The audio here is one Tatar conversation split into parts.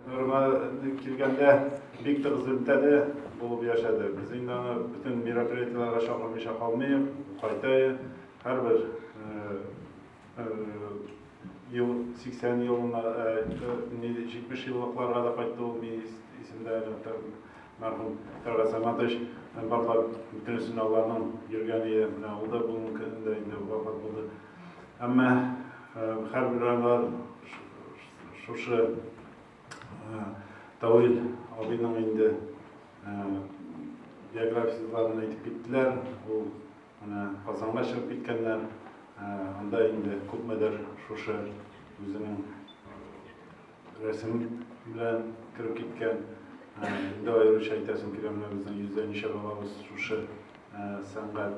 Нурма килгәндә бик тыгыз элемтәдә булып яшәде. Без инде аны бөтен мероприятиеләргә чакырмыйча калмыйк, кайтайы. Һәрбер ел 80 елына, 70 еллыкларга да кайтты ул мине исемдә мәрхүм Тәлгать Саматович барлар бөтен сынауларның йөргән иде. Менә ул да бүгенге көндә инде вафат булды. Әмма һәрбер районда Шушы э, Тавил абыйның инде э, биографияләрен әйтеп киттеләр. Ул менә Казанга чыгып киткәннәр. Э, анда инде күпмедер шушы үзенең рәсем белән кереп киткән. Инде аеруча әйтәсем килә, менә безнең йөздә ничә балабыз шушы сәнгать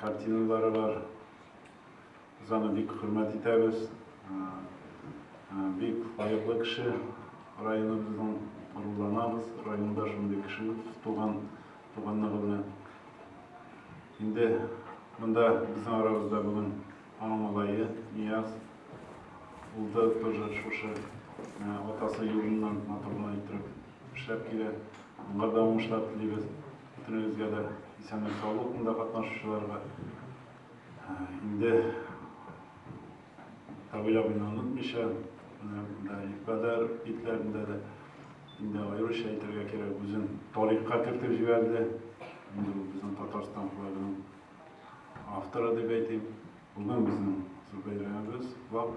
Картиналары бар. Без аны бик хөрмәт итәбез. Бик лаеклы кеше. Районыбызның горурланабыз. Районда шундый кеше туган, туганлыгы белән. Инде монда безнең арабызда бүген аның малае Нияз. Ул да тоже шушы атасы юлыннан матур гына иттереп эшләп килә. Аңа да уңышлар телибез. Бөтенебезгә дә исәнлек-саулык монда катнашучыларга. Инде Тавил абыйны онытмыйча, монда Ипкадәр битләрендә дә инде аеруча әйтергә кирәк, үзен тарихка кертеп җибәрде. Инде ул безнең Татарстан флагының авторы дип әйтим. Бүген безнең зур бәйрәмебез, флаг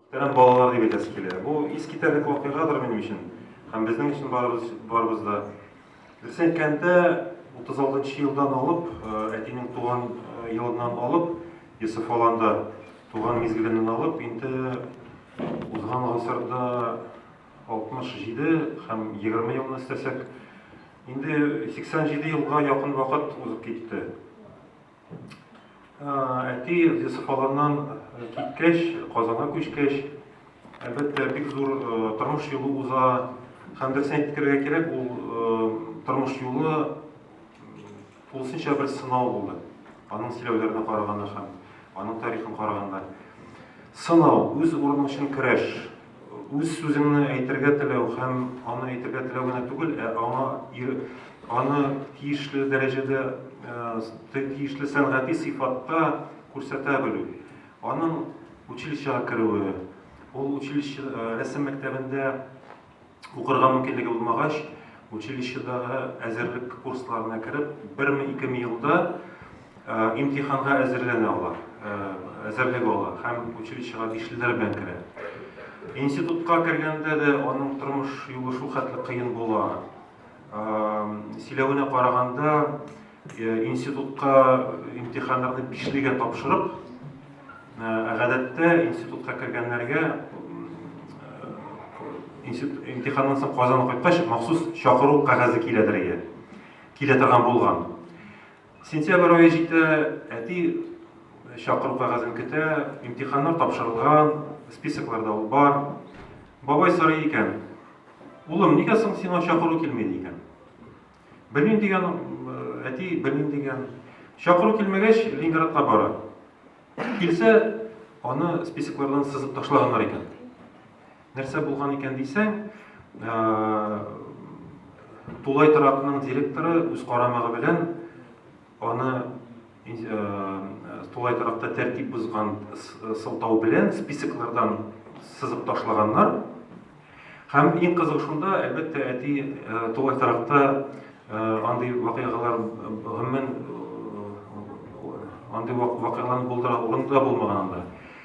Тәмам балалар дип әйтәсе килә. Бу искитәрлек вакыйгадыр минем өчен һәм безнең өчен барыбыз да. Дөресен әйткәндә, 36 нчы елдан алып, әтинең туган елыннан алып, Йосыф Аланда туган мизгеленнән алып, инде узган гасырда 67 һәм 20 елны өстәсәк, инде 87 елга якын вакыт узып китте. Әти Юсеф аларнан киткәч, Казанга күчкәч, әлбәттә, бик зур тормыш юлы уза. Һәм дөресен әйтергә кирәк, ул тормыш юлы тулысынча бер сынау булды. Аның сөйләүләренә караганда һәм аның тарихын караганда. Сынау, үз урының өчен көрәш. Үз сүзеңне әйтергә теләү һәм аны әйтергә теләү генә түгел, ә аңа аны тиешле дәрәҗәдә, тиешле сәнгати сыйфатта күрсәтә белү. Аның училищега керүе, ул училище, рәсем мәктәбендә укырга мөмкинлеге булмагач, училищедагы әзерлек курсларына кереп, берме-икеме елда Имтиханга әзерләнә алар, әзерлек ала һәм училищега бишлеләр белән керә. Институтка кергәндә дә аның тормыш юлы шул хәтле кыен була. Сөйләвенә караганда, институтка имтиханнарны бишлегә тапшырып, гадәттә институтка кергәннәргә имтиханнан соң Казанга кайткач махсус чакыру кәгазе киләдер иде, килә торган булган. Сентябрь ае җитә, әти чакыру кәгазен көтә, имтиханнар тапшырылган, списокларда ул бар. Бабай сорый икән, Улым, нигә соң сиңа чакыру килми? ди икән. Белмим, дигән әти, белмим, дигән. Чакыру килмәгәч, Ленинградка бара. Килсә, аны списоклардан сызып ташлаганнар икән. Нәрсә булган икән дисәң, тулай торакның директоры үз карамагы белән аны тулай торакта тәртип бозган сылтау белән списоклардан сызып ташлаганнар. Һәм иң кызыгы шунда, әлбәттә, әти тулай торакта андый вакыйгалар гомумән андый вакыйгаларны булдыра урыны да булмаган анда.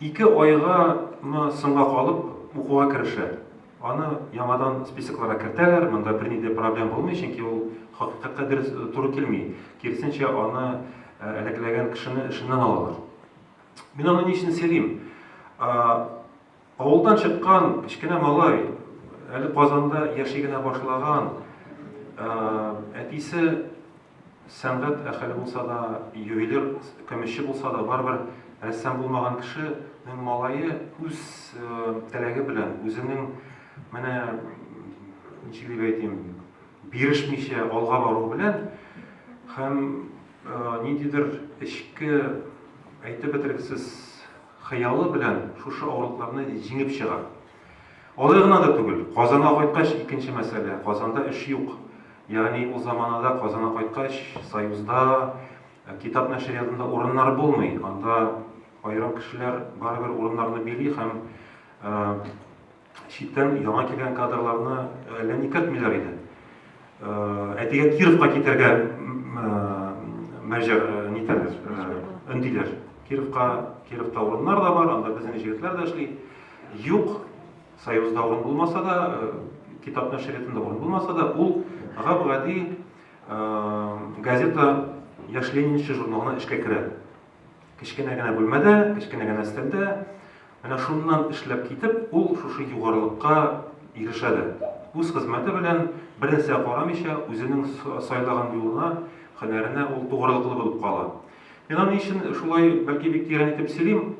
Ике айга мы соңга калып укуга керешә. Аны яңадан списокларга кертәләр, монда берни дә проблем булмый, чөнки ул хакыйкатькә дөрес туры килми. Киресенчә, аны әләкләгән кешене эшеннән алалар. Мин аны ни өчен сөйлим? Авылдан чыккан кечкенә малай, әле Казанда яши генә башлаган, әтисе, Сәнгать әхеле булса да, ювелир, көмешче булса да, барыбер рәссам булмаган кешенең малае үз теләге белән, үзенең менә ничек дип әйтим, бирешмичә алга баруы белән һәм ниндидер эчке әйтеп бетергесез хыялы белән шушы авырлыкларны җиңеп чыга. Алай гына да түгел, Казанга кайткач, икенче мәсьәлә, Казанда эш юк. Ягъни ул заманада Казанга кайткач, Союзда, китап нәшриятында урыннар булмый. Анда аерым кешеләр барыбер урыннарны били һәм читтән яңа килгән кадрларны әллә никертмиләр иде. Әтигә Кировка китәргә мәҗәр нитәләр, өндиләр. Кировка, Кировта урыннар да бар, анда безнең җегетләр дә эшли. Юк, Союзда урын булмаса да, китап нәшриятында урын булмаса да, ул гап-гади газета Яшь ленинчы журналына эшкә керә. Кечкенә генә бүлмәдә, кечкенә генә өстәлдә. Менә шуннан эшләп китеп, ул шушы югарылыкка ирешә дә. Үз хезмәте белән бернәрсәгә карамыйча, үзенең сайлаган юлына, һөнәренә ул тугрылыклы булып кала. Мин аны ни өчен шулай, бәлки, бик тирән итеп сөйлим,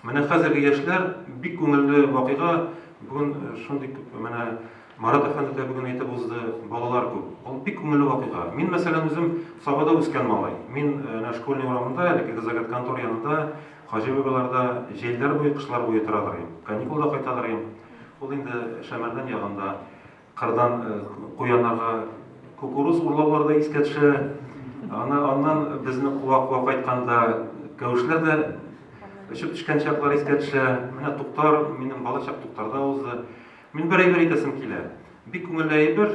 менә хәзерге яшьләр, бик күңелле вакыйга, бүген шундый күп, менә Марат әфәнде дә бүген әйтеп узды, балалар күп. Ул бик күңелле вакыйга. Мин, мәсәлән, үзем Сабада үскән малай. Мин әнә школьный урамында, әлеге загратконтор янында Хаҗи бабайлар да җәйләр буе, кышлар буе торадыр ди. Каникулда кайтадыр ди. Ул инде Шәмәрдән ягында кырдан куяннарга кукуруз урлаулары да искә төшә. Аны аннан безне куа-куа кайтканда кәвешләр дә очып төшкән чаклар искә төшә. Менә Туктар, минем бала чак Туктарда узды. Мин бер әйбер әйтәсем килә. Бик күңелле әйбер,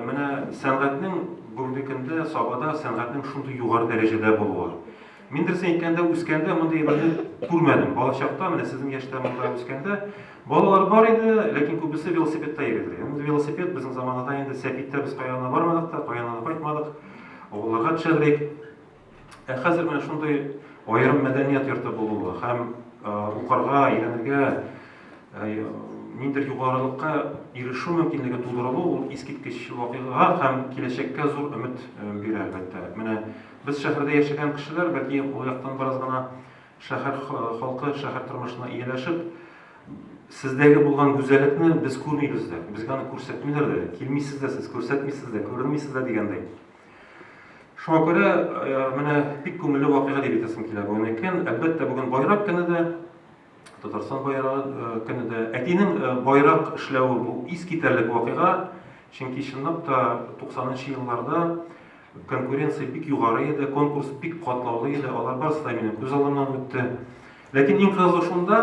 менә сәнгатьнең бүгенге көндә Сабада сәнгатьнең шундый югары дәрәҗәдә булуы. Мин дөресен әйткәндә, үскәндә мондый әйберне күрмәдем. Балачакта, менә сезнең яшьтә монда үскәндә, балалар бар иде, ләкин күбесе велосипедта йөридер. Ул велосипед безнең заманада инде сәпиттә без кая гына бармадык та, кая гына да кайтмадык. Авылларга төшәдерик. Ә хәзер менә шундый аерым мәдәният йорты булуы һәм укырга, өйрәнергә, ниндидер югарылыкка ирешү мөмкинлеге тудырылу, ул искиткеч вакыйга һәм киләчәккә зур өмет бирә, әлбәттә. Менә Без шәһәрдә яшәгән кешеләр, бәлки ул яктан бераз гына шәһәр халкы, шәһәр тормышына ияләшеп, сездәге булган гүзәллекне без күрмибез дә, безгә аны күрсәтмиләр дә, килмисез дә сез, күрсәтмисез дә, күренмисез дә дигәндәй. Шуңа күрә менә бик күңелле вакыйга дип әйтәсем килә бүген әйткән. Әлбәттә, бүген байрак көне дә. Татарстан байрагы көне дә. Әтинең байрак эшләве бу искитәрлек вакыйга, чөнки чынлап та 90 нчы елларда конкуренция бик югары иде, конкурс бик катлаулы иде, алар барысы да минем күз алдымнан үтте. Ләкин иң кызыгы шунда,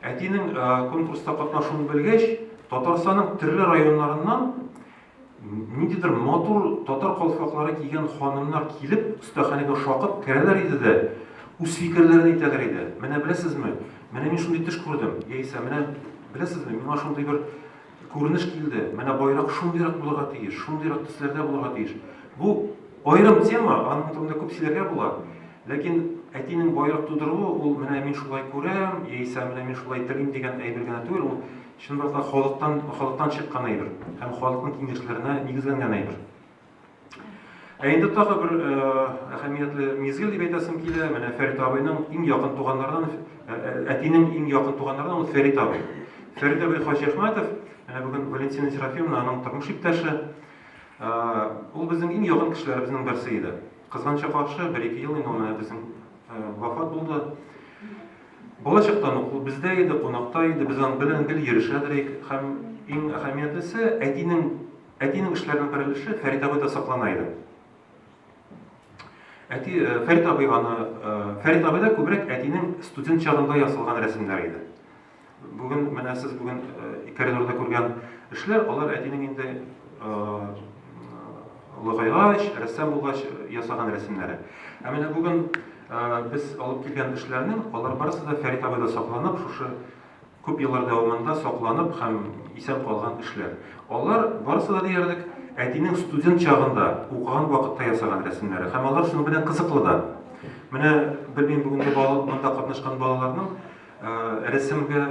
әтинең конкурста катнашуын белгәч, Татарстанның төрле районнарыннан Ниндидер матур татар калфаклары кигән ханымнар килеп, остаханәгә шакып керәләр иде дә, үз фикерләрен әйтәләр иде. Менә беләсезме, менә мин шундый төш күрдем, яисә менә беләсезме, миңа шундый бер күренеш килде, менә байрак шундыйрак булырга тиеш, шундыйрак төсләрдә булырга тиеш. Бу аерым тема, аның турында күп сөйләргә була. Ләкин әтинең байрак тудыруы ул менә мин шулай күрәм, яисә менә мин шулай телим дигән әйбер генә түгел, ул Чынбрак та халыктан, халыктан чыккан әйбер һәм халыкның киңәшләренә нигезләнгән әйбер. Ә инде тагы бер әһәмиятле мизгел дип әйтәсем килә, менә Фәрит абыйның иң якын туганнарыннан, әтинең иң якын туганнарыннан ул Фәрит абый. Фәрит абый Хаҗиәхмәтов, менә бүген Валентина Серафимовна аның тормыш иптәше. Ул безнең иң якын кешеләребезнең берсе иде. Кызганычка каршы, бер-ике ел инде ул менә безнең вафат булды. Балачактан ук ул бездә иде, кунакта иде, без аның белән гел йөрешәдер идек. Һәм иң әһәмиятлесе, әтинең, әтинең эшләренең бер өлеше Фәрит абыйда саклана иде. Әти, Фәрит абый аны, Фәрит абыйда күбрәк әтинең студент чагында ясалган рәсемнәре иде. Бүген, менә сез бүген коридорда күргән эшләр, алар әтинең инде олыгайгач, рәссам булгач ясаган рәсемнәре. Ә менә бүген Без алып килгән эшләрнең, алар барысы да Фәрит абыйда сакланып, шушы күп еллар дәвамында сакланып һәм исән калган эшләр. Алар барысы да диярлек әтинең студент чагында, укыган вакытта ясаган рәсемнәре һәм алар шуның белән кызыклы да. Менә белмим бүгенге монда катнашкан балаларның рәсемгә,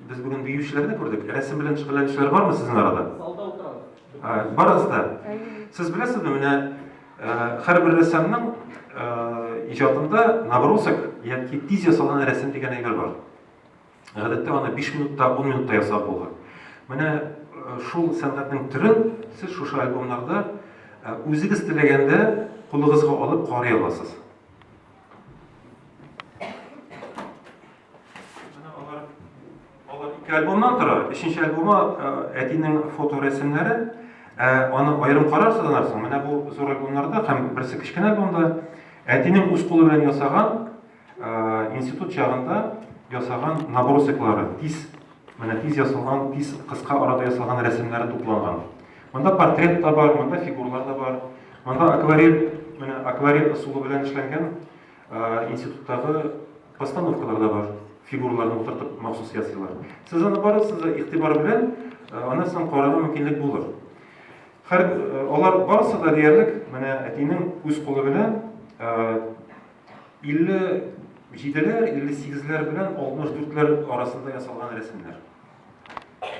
без бүген биючеләрне күрдек, рәсем белән шөгыльләнүчеләр бармы сезнең арада? Салда утырабыз. Барыгыз да. Сез беләсезме, менә Һәрбер рәссамның иҗатында набросок яки тиз ясалган рәсем дигән әйбер бар. Гадәттә аны 5 минутта, 10 минутта ясап була. Менә шул сәнгатьнең төрен сез шушы альбомнарда үзегез теләгәндә кулыгызга алып карый аласыз. Ике альбомнан тора. Өченче альбомы әтинең фоторәсемнәре. Аны аерым карарсыз анарсың. Менә бу зур альбомнарда һәм берсе кечкенә альбомда әтинең үз кулы белән ясаган институт чагында ясаган набросоклары, тиз, менә тиз ясалган, тиз кыска арада ясалган рәсемнәре тупланган. Монда портрет та бар, монда фигурлар да бар. Монда акварель, менә акварель ысулы белән эшләнгән Институттагы постановкалар да бар, фигураларны утыртып махсус ясыйлар. Сез аны барыгыз да игътибар белән, аннан соң карарга мөмкинлек булыр. Хәр алар барысы да диярлек менә әтинең үз кулы белән 57-ләр, 58-ләр белән 64-ләр арасында ясалган рәсемнәр.